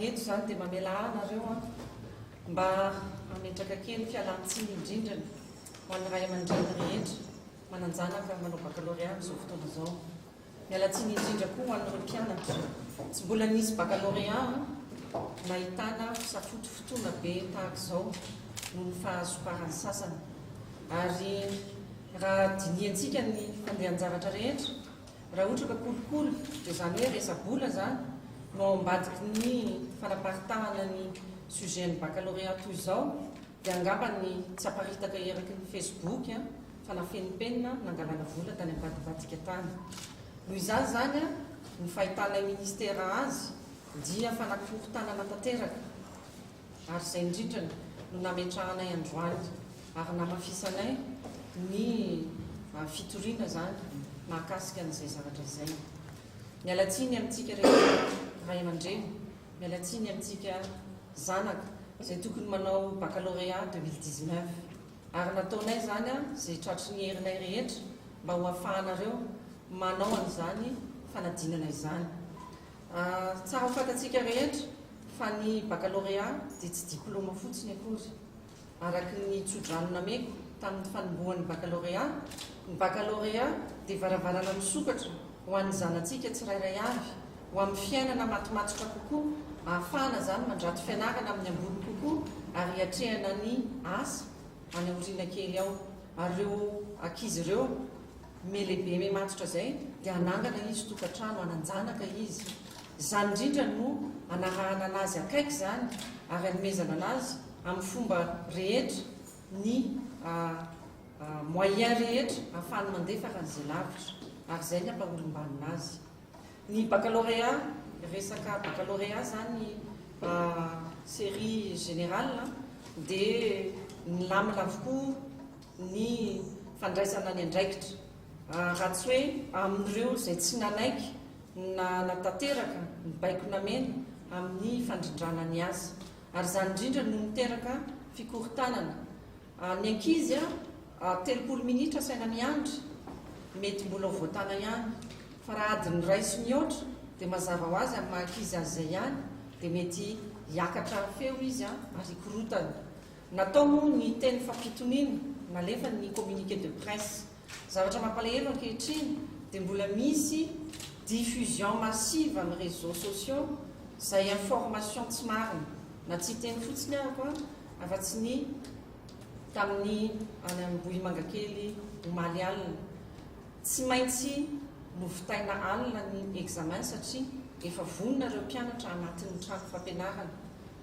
Eto izany dia mamela ahy ianareo mba hametraka kely fialan-tsiny indrindra ny ho an'ny ray aman-dreny rehetra manan-janaka manao baccalauréat amin'izao fotoana izao. Miala tsiny indrindra koa ho an'ireo mpianatra tsy mbola nisy baccalauréat nahitana fisafotofotoana be tahaka izao noho ny fahazoparan'ny sasany. Ary raha dinihantsika ny fandehan-javatra rehetra, Raha ohatra ka kolikoly, dia izany hoe resa-bola izany, no ao ambadiky ny fanaparitahana ny sujet an'ny baccalauréat toy izao, dia angamba ny tsy aparitaka eraky ny Facebook fa nafen'ny penina nangalana vola tany ambadibadika tany. Noho izany izany, ny fahitanay ministera azy dia fanakorontanana tanteraka. ary izay indrindra no nametrahanay androany ary namafisanay ny fitoriana izany mahakasika an'izay zavatra izay. Miala tsiny amintsika rehetra ray aman-dreny, miala tsiny amintsika zanaka izay tokony manao baccalauréat 2019 ary nataonay izany izay tratry ny herinay rehetra mba ho afahanareo manao an'izany fanadinana izany. Tsara ho fantatsika rehetra fa ny bakalorea dia tsy diplaoma fotsiny akory. Araka ny tsodrano nameko tamin'ny fanombohan'ny bakalorea, ny bakalorea dia varavarana misokatra ho an'ny zanatsika tsirairay avy ho amin'ny fiainana matimatika kokoa, ahafahana izany mandrato fianarana amin'ny ambony kokoa ary hiatrehana ny asa any aoriana kely ao. Ary ireo ankizy ireo. Me lehibe me matotra zay de hanangana izy tokatrano hananjanaka izy zany indrindra no anarahana anazy akaiky zany ary anomezana anazy amin'ny fomba rehetra ny moyen rehetra afahany mandefa raha izay lavitra ary zay ny ampaholombanina azy ny baccalauréat resaka baccalauréat zany serie générale dia ny lamina avokoa ny fandraisana ny andraikitra, raha tsy hoe amin'ireo izay tsy nanaiky na nanatanteraka ny baiko namena amin'ny fandrindrana ny asa, ary izany indrindra no niteraka fikorontanana. Ny ankizy telopolo minitra asaina miandry, mety mbola ho voatana ihany, fa raha adiny iray sy mihoatra, dia mazava ho azy amin'ny maha-ankizy azy izay ihany, dia mety hiakatra feo izy ary hikorontana. Natao moa ny teny fampitoniana, nalefa ny communiqué de presse. Zavatra mampalahelo ankehitriny dia mbola misy diffusion massive amin'ny réseaux sociaux izay information tsy marina, na tsy hiteny fotsiny aho an, afa-tsy ny tamin'ny any Ambohimangakely omaly alina. Tsy maintsy novitaina alina ny examen satria efa vonona ireo mpianatra anatin'ny trano fampianarana.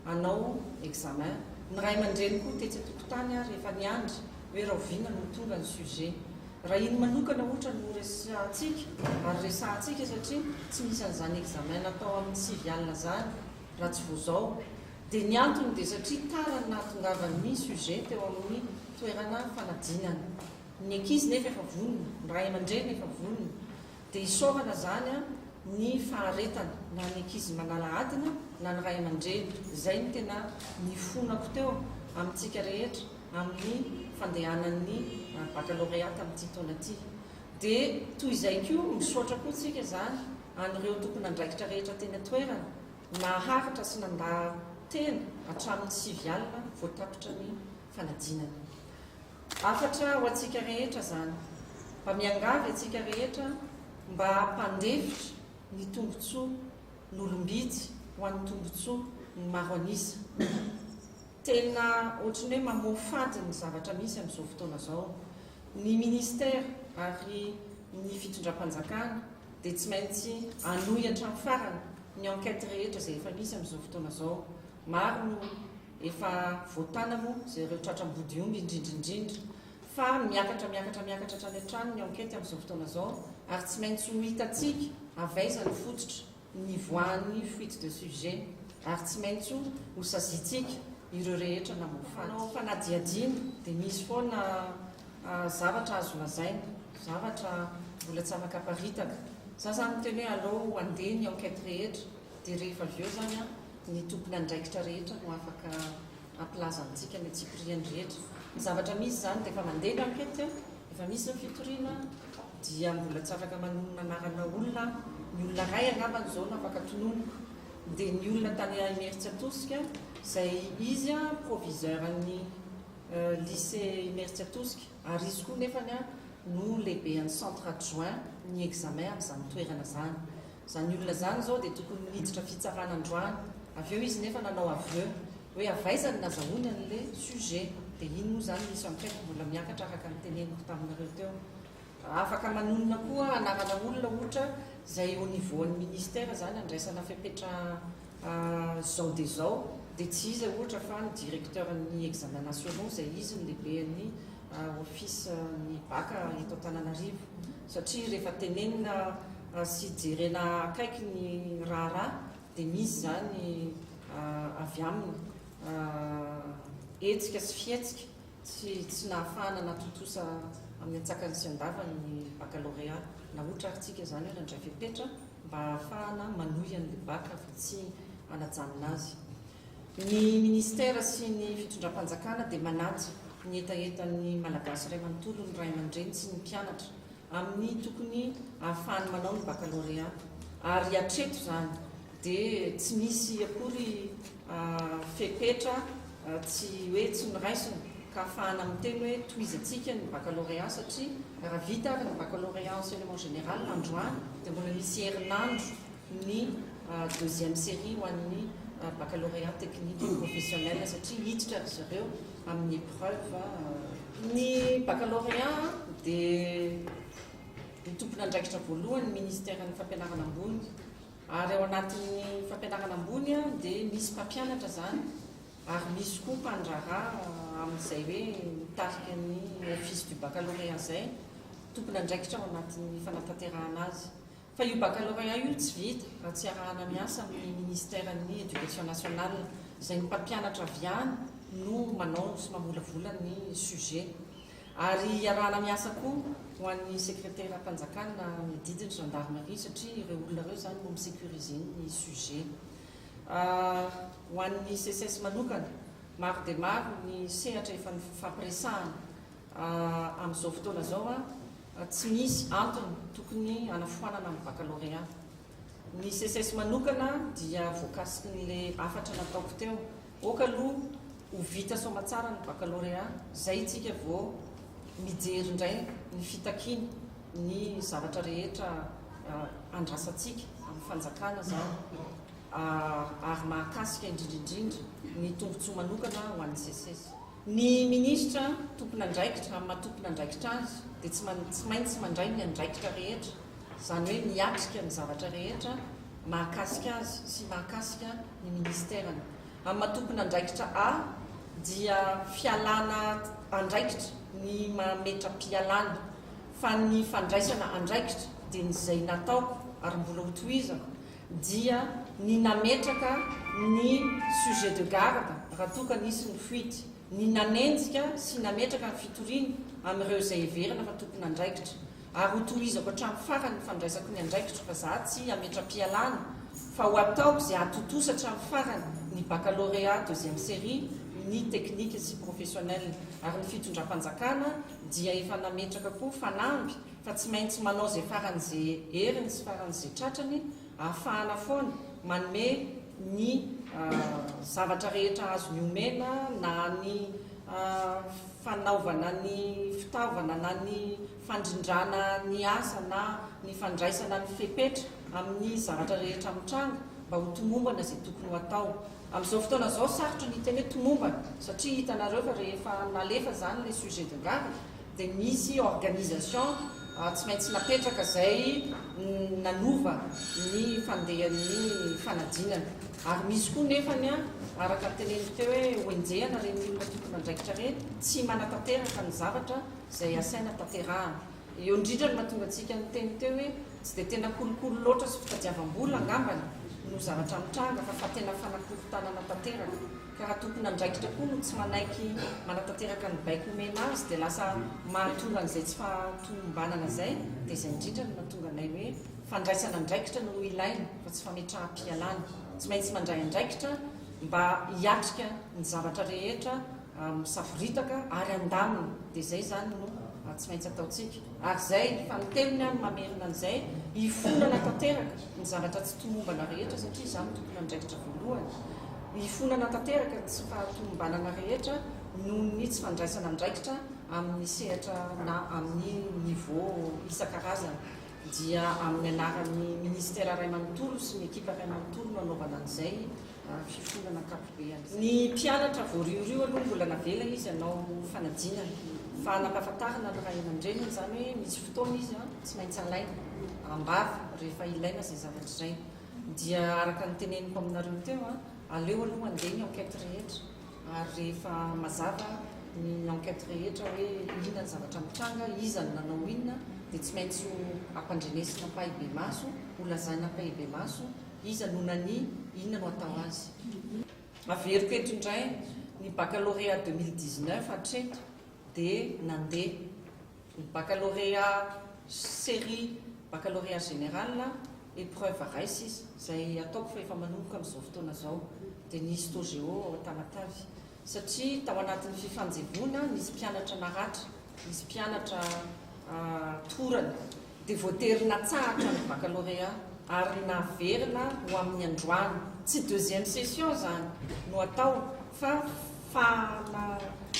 hanao examen, ny ray aman-dreny koa tetsy an-tokotany ary efa niandry hoe rahoviana no ho tonga ny sujet. Raha iny manokana ohatra no horesahantsika ary resahantsika satria tsy misy an'izany examen natao amin'ny sivy alina izany raha tsy vao izao dia ny antony dia satria tara ny nahatongavan'ny sujet teo amin'ny toerana fanadinana. Ny ankizy nefa efa vonona, ny ray aman-dreny efa vonona. Dia isaorana izany ny faharetana na ny ankizy manala adina na ny ray aman-dreny. Izay no tena nifonako teo amintsika rehetra amin'ny fandehanan'ny baccalauréat tamin'ity taona ity. Dia toy izay koa misaotra koa tsika izany an'ireo tompon'andraikitra rehetra teny an-toerana naharitra sy nandà tena hatramin'ny sivy alina vao tapitra ny fanadinana. Hafatra ho antsika rehetra izany, mba miangavy antsika rehetra mba hampandefitra ny tombotsoa nolom-bidy ho an'ny tombotsoa ny maro an'isa. Tena ohatrin'ny hoe mamoafady ny zavatra misy amin'izao fotoana izao. Ny ministera ary ny fitondram-panjakana dia tsy maintsy hanohy hatramin'ny farany ny enquête rehetra izay efa misy amin'izao fotoana izao. Maro no Efa voatàna moa izay ireo tratra ambodiomby indrindra indrindra fa miakatra miakatra miakatra hatrany hatrany ny enquête amin'izao fotoana izao ary tsy maintsy ho hitantsika avy aiza no fototra nivoahan'ny fuite de sujet ary tsy maintsy ho saziantsika ireo rehetra namaofaty. Manao fanadihadiana dia misy foana zavatra azo lazaina, zavatra mbola tsy afaka aparitaka. Za zany miteny hoe aleo andeha ny enquête rehetra. Dia rehefa avy eo izany an, ny tompon'andraikitra rehetra no afaka hampilaza amintsika ny antsipiriany rehetra. Ny zavatra misy izany dia efa mandeha ny ankety an, efa misy ny fitoriana an, dia mbola tsy afaka manonona anarana olona an, ny olona iray angambany izao no afaka tononiko, dia ny olona tany Imerintsiatosika izay izy an proviseur an'ny lycée Imerintsiatosika. Ary izy koa nefany no lehibean'ny centre adjoint ny examen amin'izany toerana izany. Izany olona izany izao dia tokony niditra fitsarana androany. Avy eo izy nefa nanao aveu hoe avy aiza no nazahoany an'le sujet. Dia iny moa izany misy an'kaiky mbola miakatra araka ny teneniko taminareo teo. Raha afaka manonona koa anarana olona ohatra izay au niveau an'ny ministère izany andraisana fepetra Zao dia zao dia tsy iza ohatra fa ny directeur ny examens nationaux izay izy no lehibe ny office ny bac eto Antananarivo satria rehefa tenenina sy jerena akaiky ny raharaha dia misy izany avy aminy hetsika sy fihetsika Tsy tsy nahafahana natontosa amin'ny antsakany sy andavany ny bakalorea. Nahotra ary tsika izany hoe nandray fepetra mba hahafahana manohy an'ilay baka fa tsy hanajanona azy. Ny Ministera sy ny fitondram-panjakana dia manaja ny hetahetan'ny Malagasy iray manontolo, ny ray aman-dreny sy ny mpianatra amin'ny tokony hahafahany manao ny bakalorea ary hatreto izany dia tsy nisy akory fepetra tsy hoe tsy noraisina ka afahana miteny hoe tohizantsika ny baccalauréat satria raha vita ary ny baccalauréat enseignement général androany dia mbola misy herinandro ny deuxième série ho an'ny baccalauréat technique et professionnel satria hiditra ry zareo amin'ny épreuve Ny baccalauréat dia ny tompon'andraikitra voalohany ny Ministeran'ny Fampianarana Ambony Ary ao anatin'ny fampianarana ambony dia misy mpampianatra izany ary misy koa mpandraharaha amin'izay hoe mitarika ny office du baccalauréat izay tompon'andraikitra ao anatin'ny fanatanterahana azy. Fa io baccalauréat io tsy vita raha tsy arahana miasa amin'ny ministeran'ny Education nationale izay ny mpampianatra avy any no manao sy mamolavola ny sujet. Ary hiarahana miasa koa ho an'ny Sekreteram-panjakana ny adidy ny Gendarmerie satria ireo olona ireo izany no mi-securiser ny sujet. Ho an'ny SECES manokana, maro dia maro ny sehatra efa nifampiresahana amin'izao fotoana izao a, tsy misy antony tokony hanafoanana ny Baccalauréat. Ny SECES manokana dia voakasik'ilay hafatra nataoko teo Ok aloha ho vita soamatsara ny baccalauréat zay itsika vao mijery indray ny fitakiany ny zavatra rehetra andrasantsika amin'ny fanjakana zany ary mahakasika indrindrindrindra ny tombotsoa manokana ho an'ny seces. Ny ministra tompon'andraikitra amin'ny maha tompon'andraikitra azy dia tsy maintsy mandray ny andraikitra rehetra, izany hoe miatrika ny zavatra rehetra mahakasika azy sy mahakasika ny Ministerany. Amin'ny maha tompon'andraikitra A dia fialana andraikitra ny maha metra-pialana fa ny fandraisana andraikitra dia ny izay nataoko ary mbola ho tohizako dia ny nametraka ny sujet de garde raha toa ka nisy ny fuite, ny nanenjika sy nametraka ny fitoriana amin'ireo izay heverina fa tompon'andraikitra. ary ho tohizako hatramin'ny farany ny fandraisako ny andraikitro fa za tsy hametra-pialana fa ho ataoko izay hahatontosa hatramin'ny farany ny baccalauréat deuxième série ny technique sy professionnel ary ny fitondram-panjakana dia efa nametraka koa fanamby fa tsy maintsy manao izay faran'izay heriny sy faran'izay tratrany Ahafahana foana manome ny zavatra rehetra azony omena na ny fanaovana ny fitaovana na ny fandrindrana ny asa na ny fandraisana ny fepetra amin'ny zavatra rehetra mitranga mba ho tomombana izay tokony ho atao. Amin'izao fotoana izao sarotra ny hiteny hoe tomombana satria hitanareo fa rehefa nalefa izany ilay sujet de garde dia nisy organisation tsy maintsy napetraka izay nanova ny fandehan'ny fanadinana ary misy koa nefany araka ny teneniko teo hoe hoenjehana ireny olona tompon'andraikitra ireny tsy manatanteraka ny zavatra izay asaina tanterahana. Eo indrindra no mahatonga antsika niteny teo hoe tsy dia tena kolikoly loatra sy fitadiavam-bola angambany no zavatra nitranga fa fa tena fanakorontanana tanteraka. ka raha tompon'andraikitra koa no tsy manaiky manatanteraka ny baiko omena azy dia lasa mahatonga an'izay tsy fahatomombanana izay, dia izay indrindra no mahatonga anay hoe fandraisana andraikitra no ilaina fa tsy fametraham-pialana, tsy maintsy mandray andraikitra mba hiatrika ny zavatra rehetra misavoritaka ary handamina, dia izay izany no tsy maintsy ataontsika, ary izay fanintelony aho no mamerina an'izay, hifonana tanteraka ny zavatra tsy tomombana rehetra satria izaho no tompon'andraikitra voalohany. Hifonana tanteraka ny tsy fahatomombanana rehetra noho ny tsy fandraisana andraikitra amin'ny sehatra na amin'ny niveau isan-karazany, dia amin'ny anaran'ny Minisitera iray manontolo sy ny ekipa iray manontolo no hanaovana an'izay fifonana ankapobeny. Ny mpianatra voarioriho aloha mbola navela izy hanao fanadinana, fa hanampahafantarina ny ray aman-dreniny izany hoe misy fotoana izy tsy maintsy alaina am-bava rehefa ilaina izay zavatra izay. Dia araka ny teneniko aminareo teo, aleo aloha handeha ny enquête rehetra, ary rehefa mazava ny enquête rehetra hoe inona ny zavatra nitranga, iza no nanao inona, dia tsy maintsy ho ampandrenesina ampahibemaso, ho lazaina ampahibemaso iza no nania, inona no atao azy. Averiko eto indray, ny baccalauréat deux mille dix-neuf hatreto dia nandeha. Ny bakalôrea série bakalôrea général épreuve rais izay ataoko fa efa manomboka amin'izao fotoana izao dia ny histo géo ao Tamatave satria tao anatin'ny fifanjevoana nisy mpianatra naratra nisy mpianatra torana dia voatery natsahatra ny bakalôrea ary naverina ho amin'ny androany tsy deuxième session izany no atao fa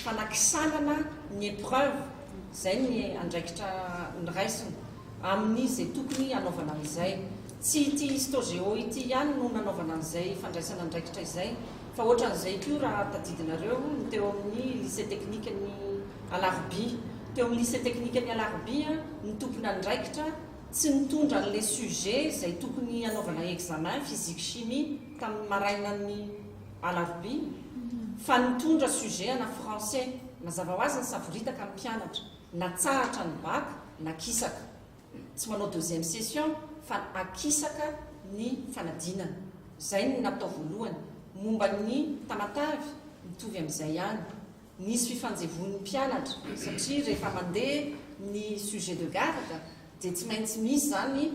fanakisanana ny épreuve izay ny andraikitra niraisina amin'ny izay tokony hanaovana an'izay. Tsy ity Histogeo ity ihany no nanaovana an'izay fandraisana andraikitra izay fa ohatran'izay koa raha tadidinareo ny teo amin'ny Lycée Teknikan'i Alarobia. Teo amin'ny Lycée Teknikan'i Alarobia ny tompon'andraikitra tsy nitondra an'ilay sujet izay tokony hanaovana examen, physique-chimie, tamin'ny marainan'ny. Alarobia, fa nitondra sujet ana français, mazava ho azy ny savoritaka ny mpianatra, natsahatra ny bac, nakisaka. Tsy manao deuxième session fa akisaka ny fanadinana. Izay no natao voalohany. Momba ny tamatavy, mitovy amin'izay ihany. Nisy fifanjevoan'ny mpianatra, satria rehefa mandeha ny sujet de garde dia tsy maintsy misy izany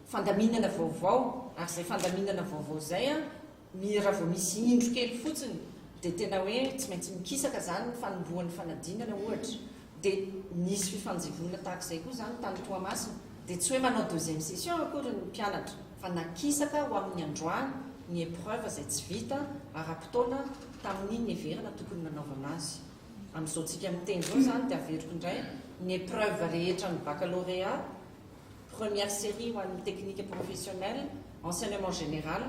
fandaminana vaovao, ary izay fandaminana vaovao izay, Ny raha vao misy indro kely fotsiny dia tena hoe tsy maintsy mikisaka izany ny fanombohan'ny fanadinana ohatra dia nisy fifanjevoana tahaka izay koa izany tany Toamasina dia tsy hoe manao deuxième session akory ny mpianatra fa nakisaka ho amin'ny androany ny épreuve izay tsy vita ara-potoana tamin'ny niheverana tokony nanaovana azy amin'izao tsika miteny izao izany dia averiko indray ny épreuve rehetra ny baccalauréat Première série ho an'ny technique professionnel, enseignement général,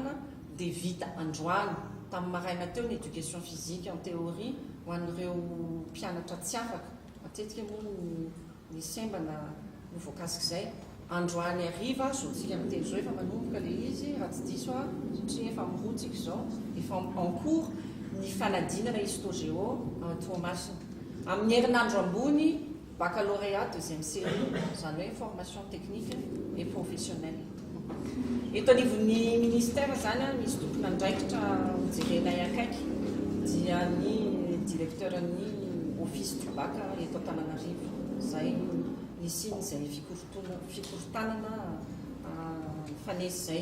dia vita androany, tamin'ny maraina teo, ny éducation physique en théorie ho an'ireo mpianatra tsy afaka, matetika moa ny ny sembana no voakasik'izay, androany hariva, zontsika amin'ny telo zao efa manomboka ilay izy raha tsy diso aho, satria efa mirotsika izao, efa en cours ny fanadinana histo-géo Toamasina, amin'ny herinandro ambony. Baccalauréat deuxième série, izany hoe formation technique et professionnelle. Eto anivon'ny ministère izany misy tompon'andraikitra hojerenay akaiky dia ny directeur-n'ny office du bac eto Antananarivo izay nisian'izay fikorontanana nifanesy izay.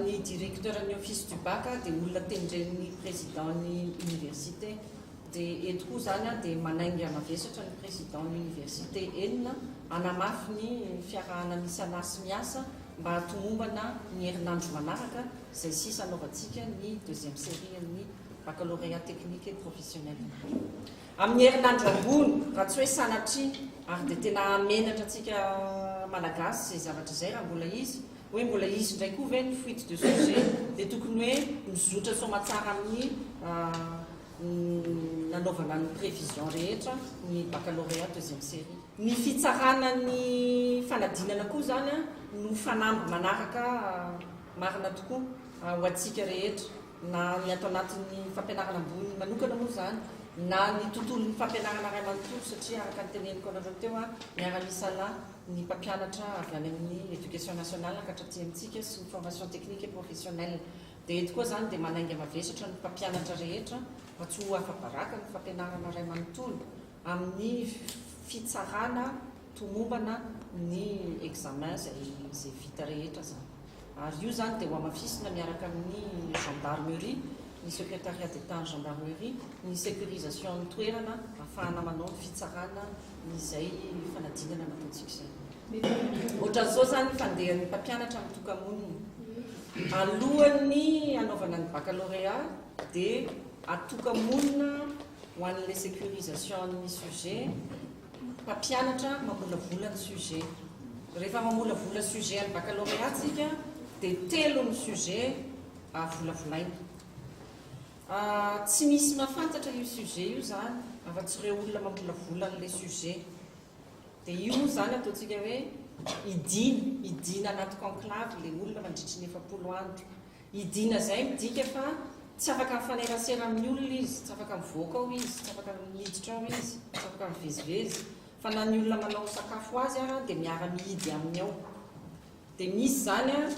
Ny directeur-n'ny office du bac dia olona tendren'ny président-n'ny université. Dia eto koa izany dia manainga mavesatra ny Président ny Université enina hanamafy ny fiarahana misalahy sy miasa mba hatomombana ny herinandro manaraka izay sisa hanaovantsika ny deuxième série an'ny Baccalauréat technique et professionnel indray amin'ny herinandro ambony raha tsy hoe sanatria ary dia tena hahamenatra antsika Malagasy izay zavatra izay raha mbola izy hoe mbola hisy indray koa ve ny fuite de sujet dia tokony hoe mizotra soamatsara amin'ny nanaovana ny prévision rehetra ny baccalauréat deuxième série. Ny fitsarana ny fanadinana koa izany no fanamby manaraka marina tokoa ho antsika rehetra na ny ato anatin'ny fampianarana ambony manokana moa izany na ny tontolon'ny fampianarana iray manontolo satria araka ny teneniko anareo teo aho miara-misala ny mpampianatra avy any amin'ny éducation nationale hankatratỳ amintsika sy ny formation technique et professionnelle Dia eto koa izany dia manainga mavesatra ny mpampianatra rehetra mba tsy ho afa-baraka ny fampianarana iray manontolo amin'ny fitsarana tomombana ny examen izay izay vita rehetra izany. Ary io izany dia hohamafisina miaraka amin'ny gendarmerie, ny secretariat d'Etat ny gendarmerie, ny sécurisation ny toerana ahafahana manao ny fitsarana izay fanadinana nataontsika izay. Ohatran'izao izany ny fandehan'ny mpampianatra mitoka-monina. Alohan'ny hanaovana ny baccalauréat dia atoka-monina ho an'ilay sécurisation ny sujet, mpampianatra mamolavola ny sujet. Rehefa mamolavola sujet an'ny baccalauréat tsika dia telo ny sujet volavolaina. Ah, tsy misy mahafantatra io sujet io izany afa-tsy ireo olona mamolavola an'ilay sujet. Dia io moa izany ataontsika hoe hidiana, hidiana anaty conclave ilay olona mandritry ny efapolo andro. Hidiana izay midika fa tsy afaka mifanerasera amin'ny olona izy, tsy afaka mivoaka ao izy, tsy afaka miditra ao izy, tsy afaka mivezivezy, fa na ny olona manao sakafo ho azy ara dia miara-mihidy aminy ao. Dia misy izany an!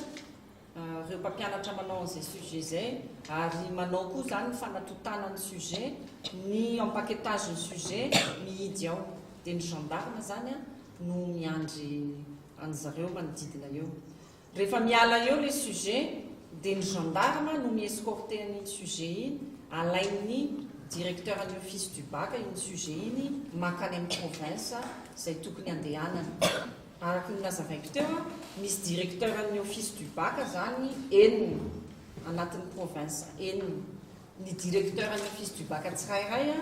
reo mpampianatra manao an'izay sujet izay ary manao koa izany ny fanatotana ny sujet, ny empaquetage ny sujet mihidy ao dia ny gendarme izany an no miandry an'zareo manodidina eo. Rehefa miala eo ilay sujet dia ny gendarme no mi-escorter an'iny sujet iny, alain'ny directeur ny office du bac iny sujet iny makany amin'ny province izay tokony andehanany. Araka ny nazavaiko teo, misy directeur an'ny office du bac zany enina anatin'ny province enina. Ny directeur an'ny office du bac tsirairay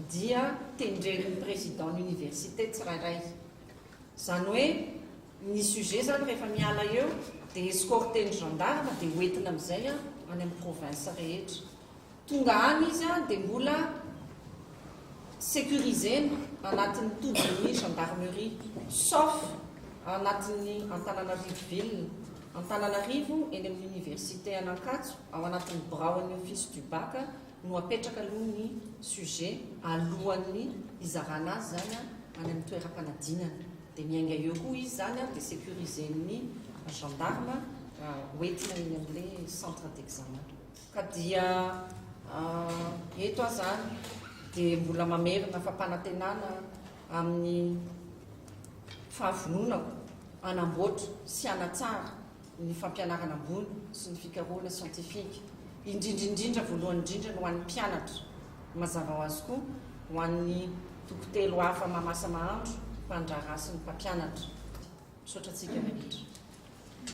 dia tendren'ny président n'université tsirairay. Zany hoe ny sujet zany rehefa miala eo dia escorter-n'ny gendarmes dia hoentina amin'izay any amin'ny province rehetra. Tonga any izy dia mbola securiser-na anatin'ny tobin'ny gendarmerie, sauf ao anatin'ny Antananarivo ville, Antananarivo eny amin'ny université an'Ankatso ao anatin'ny biraon'ny office du bac no apetraka aloha ny sujet alohan'ny hizarana azy izany any amin'ny toeram-panadinana dia miainga eo koa izy izany dia securiser-n'ny gendarme hoentina eny amin'ilay centre d'examen. Ka dia eto aho izany dia mbola mamerina fampanantenana amin'ny fahavononako hanamboatra sy hanatsara ny fampianarana ambony sy ny fikarohana siantifika, indrindra indrindra, voalohany indrindra, ny ho an'ny mpianatra. Mazava ho azy koa ho an'ny toko telo hafa mahamasa-mahandro, mpandraharaha sy ny mpampianatra. Misaotra antsika rehetra.